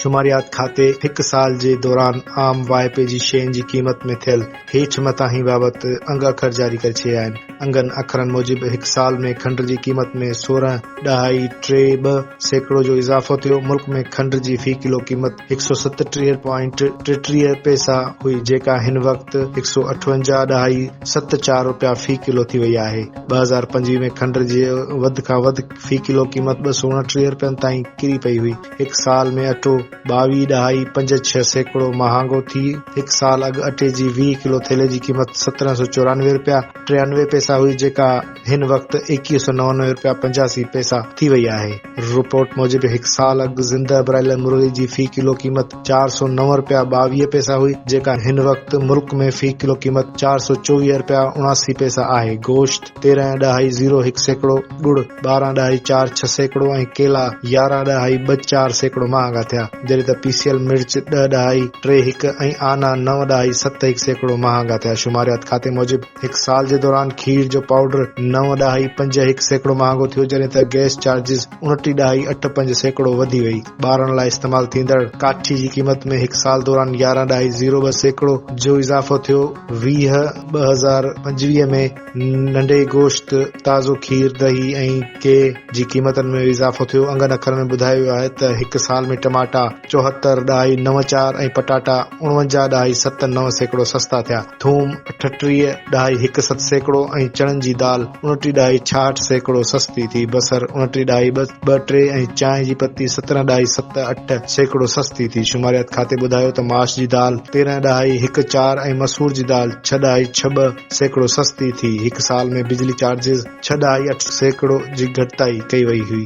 شماريات کاتي هڪ سال جي دوران عام واهپي جي شين جي قيمت ۾ ٿيل هيٺ متاهين بابت انگ اکر جاري ڪري ڇڏيا آهن. انگن اکرن موجب هڪ سال ۾ کنڊ جي قيمت ۾ سورهن ڏهائي ٽي ٻه سيڪڙو جو اضافو ٿيو. ملڪ ۾ کنڊ جي في ڪلو قيمت هڪ سؤ ستٽيهه پوائنٽ ٽيٽيهه پئسا هئي جيڪا هن وقت هڪ سؤ اٺونجاهه ڏهائي ست چار رپيا في ڪلو ٿي وئي آهي. ٻه هزار پنجويهه ۾ کنڊ جي وڌ کان وڌ في ڪلو قيمت ٻه سؤ اڻٽيهه رپين تائين ڪري پئي هئي. هڪ سال ۾ اٽو ٻاويهه ڏهائي پنج ڇهه سيڪڙو مهانگو ٿي هڪ سال اڳ اٽي جي ويهه ڪلو ٿيلهي جي قيمت سترهن سؤ چورانوي رپيا ٽيانوي پئسا هئي جيڪا هن وقت ايڪيهه سؤ نوانوي رپيا پنجاسي پئسا ٿي وئي آهي رپورٽ موجب هڪ سال اڳ زنده برايلر مرغي جي في ڪلو قيمت چار سؤ نو رپيا ٻاويهه پئسا هئي جيڪا هن وقت ملڪ ۾ في ڪلو قيمت چار سؤ چوويهه رپيا اڻاسي پئسا آهي گوشت تيرهن ڏهائي زيرو هڪ سيڪڙو، ڳڙ ٻارهن ڏهائي چار ڇهه سيڪڙو ۽ ڪيلا يارهن ڏهائي ٻه چار سيڪڙو مهانگا ٿيا، جڏهن ته پيسيل مرچ ڏهه ڏهائي ٽي هڪ ۽ آنا نو ڏهائي ست هڪ سيڪڙو مهانگا ٿيا. شماريات کاتي موجب هڪ سال جي دوران کير جو پائوڊر نو ڏهائي پنج هڪ سيڪڙو مهانگو ٿيو، جڏهن ته گئس چارجز انٽي ڏهائي اٺ پنج سيڪڙو وڌي وئي. ٻارڻ لاء استعمال ٿيندڙ ڪاٺي جي قيمت ۾ هڪ سال دوران يارهن ڏهائي زيرو ٻه سيڪڙو جو اضافو ٿيو، ويهه ٻه هزار پنجويهه ۾ ننڍي گوشت، تازو کير، ڏهي ۽ ڪي جي قيمتن ۾ به اضافو ٿيو، انگن اکرن ۾ ٻڌايو ويو آهي ته هڪ سال ۾ ٽماٽا چوهتر ڏهائي نو چار ۽ پٽاٽا اڻونجاهه ڏهائي ست نو سيڪڙو سستا ٿيا، ٿوم اٺٽيهه ڏهائي هڪ ست سيڪڙو ۽ چڻن جي دال اڻٽيهه ڏهائي ڇاهٺ سيڪڙو سستي ٿي، بصر اڻٽيهه ڏهائي ٻه ٽي ۽ چانهه جي پتي سترهن ڏهائي ست اٺ سيڪڙو سستي ٿي، شماريات کاتي ٻڌايو ته معاش جي دال تيرهن ڏهائي هڪ چار ۽ مسور جي دال ڇهه ڏهائي ڇهه ٻه، سيڪڙو سستي ٿي، هڪ سال ۾ بجلي چارجز ڇهه ڏهائي اٺ سيڪڙو جي گهٽتائي ڪئي وئي هئي.